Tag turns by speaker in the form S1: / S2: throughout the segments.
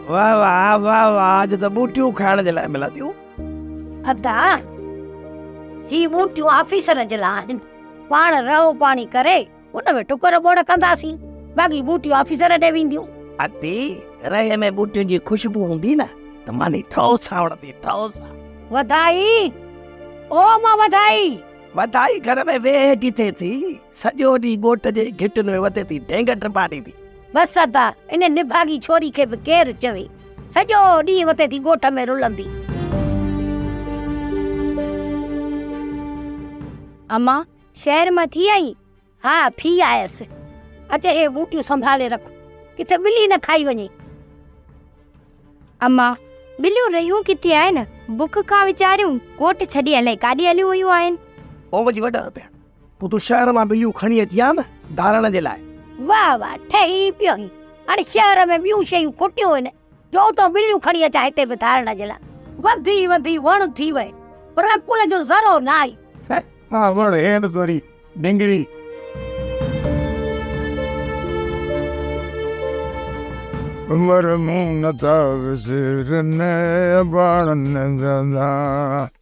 S1: واھ واھ واھ واھ اڄ ته ٻوٽيون کائڻ جي لاء ملان ٿيون. ادا
S2: هي ٻوٽيون آفيسر جي لاء آهن پاڻ رهو پاڻي ڪري ان ۾ ٽڪر ٻوڙ ڪنداسين باقي ٻوٽيون آفيسر ڏي وينديون. ادي
S1: رهي ۾ ٻوٽيون جي خوشبو هوندي نه ته ماني ٺوء سان وڻندي ٺوء سان. وڌائي
S2: او مان وڌائي. وڌائي گهر
S1: ۾ ويهه ڪٿي ٿي. سڄو ڏينهن ڳوٺ جي گهٽين ۾ وڌي ٿي ڍينگ ٽپا ڏيندي. بس ادا
S2: ان نڀاڳي ڇوري کي به ڪير چوي سڄو ڏينهن وتي ٿي ڳوٺ ۾ رلندي.
S3: امان شهر مان ٿي آئين؟ ها ٿي
S2: آيس. اچ هي ٻوٽيون سنڀالي رک ڪٿي ٻلي نه کائي وڃي.
S3: امان ٻليون رهيون ڪٿي آهن بک کان ويچاريون ڳوٺ ڇڏي الائي ڪاڏي هليون ويون آهن. اوم جي وڏا
S1: ڀيڻ پوء تون شهر مان ٻليون کڻي اچ ها نه ڌارڻ جي لاء. واهه واهه ٺهي
S2: پيو هين. هاڻي شهر ۾ ٻيون شيون کوٽيون هين جو اتان ٻليون کڻي اچان هتي به ڌارڻ جي لاء. وڌي وڌي وڻ ٿي وئي پر عقل جو ذرو نه آئي. ها وڻ
S4: هينئس وري ڊنگري. عمر مون نه ٿا وسرن اباڻن جا ڌاڻا.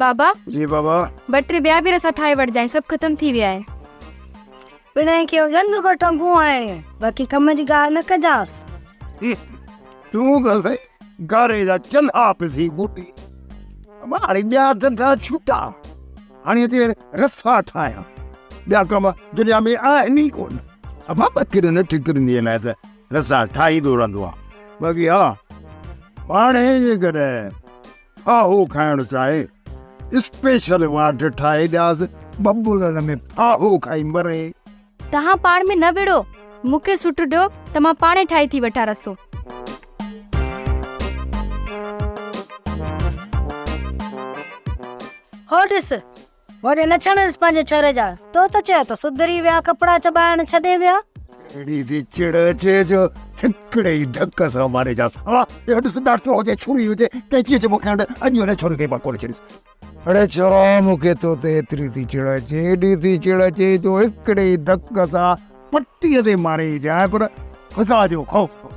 S3: بابا! جي بابا!
S4: ٻه ٽي ٻيا به رسا
S3: ٺاهي وٺجانء، سڀ ختم ٿي ويا آهن. پڻهين
S2: ڪيو ڄنگ ڪو ٽنگون آهي، باقي ڪم جي ڳالهه نه ڪجانس. تون
S4: ته سائين گاري جا چلها به ٿي موٽي، اما هاڻي ٻيا ڌنڌا ڇٽا، هاڻي اچ رسا ٺاهيان، ٻيا ڪم دنيا ۾ آهن ئي ڪونه. اما ٻڪرين ٽڪرين جي لاء ته رسا ٺاهيندو رهندو آهيان، باقي ها، هاڻي جيڪڏهن ڦاهو کائڻ چاهي، اسپيشل واڍ ٺاهي ڏياس، ببولن ۾ ڦاهو کائي مري. توهان پاڻ
S3: ۾ نه وڙهو، مون کي سٽ ڏيو ته مان پاڻهي ٺاهي ٿي وٺان رسو.
S2: هو ڏس! وڙي نه ڇڻيس پنهنجي ڇري جا. تو ته چئه ته سڌري ويا ڪپڙا چٻائڻ ڇڏي ويا. اهڙي ٿي
S4: چڙ اچي جو هڪڙي ئي ڌڪ سان ماري جانس. اها اهو ڏس ڏاٽو هجي ڇري هجي قيچي هجي مون کي هنڊ اڄ هن ڇري کي مان ڪونه ڇڏيندس. اڙي ڇورا مون کي تو تي ايتري ٿي چڙ اچي ايڏي ٿي چڙ اچي جو هڪڙي ئي ڌڪ سان پٽي تي ماري جانء پر خدا جو خوف ڪونه.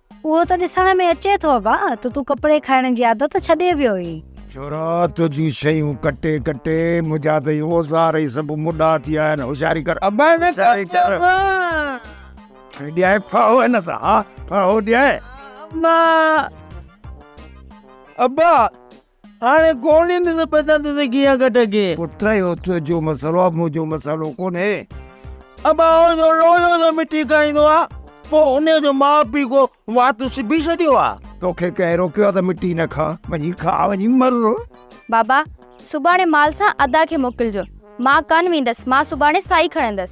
S1: اهو ته ڏسڻ
S2: ۾ اچي ٿو ابا ته تون ڪپڙي کائڻ جي عادت ڇڏي ويو اهين. ڇورا
S4: تنهنجون شيون ڪٽي ڪٽي منهنجا ته هي اوزار ئي سڀ مڏا ٿي ويا آهن هوشياري ڪر ابا نه ڪر ابا. ڏيائين ڦاهو هن سان ها ڦاهو ڏيائين. ها
S1: ابا ابا. هاڻ گولين سان پتا تجھي گيا گٽ گي. پٽ اهو تنهنجو
S4: مسئلو آ منهنجو مسئلو ڪونهي. ابا
S1: هو جو لولو سان مٺي کائيندو آ پوء ان جو ماء پيء ڪو وات سبي ڇڏيو آ. توکي ڪنهن روڪيو آ ته
S4: مٺي نه کاء. وڃي کاء وڃي مر. بابا
S3: سڀاڻي مال سان ادا کي موڪلجو. مان ڪانه ويندس مان سڀاڻي سائي کڻندس.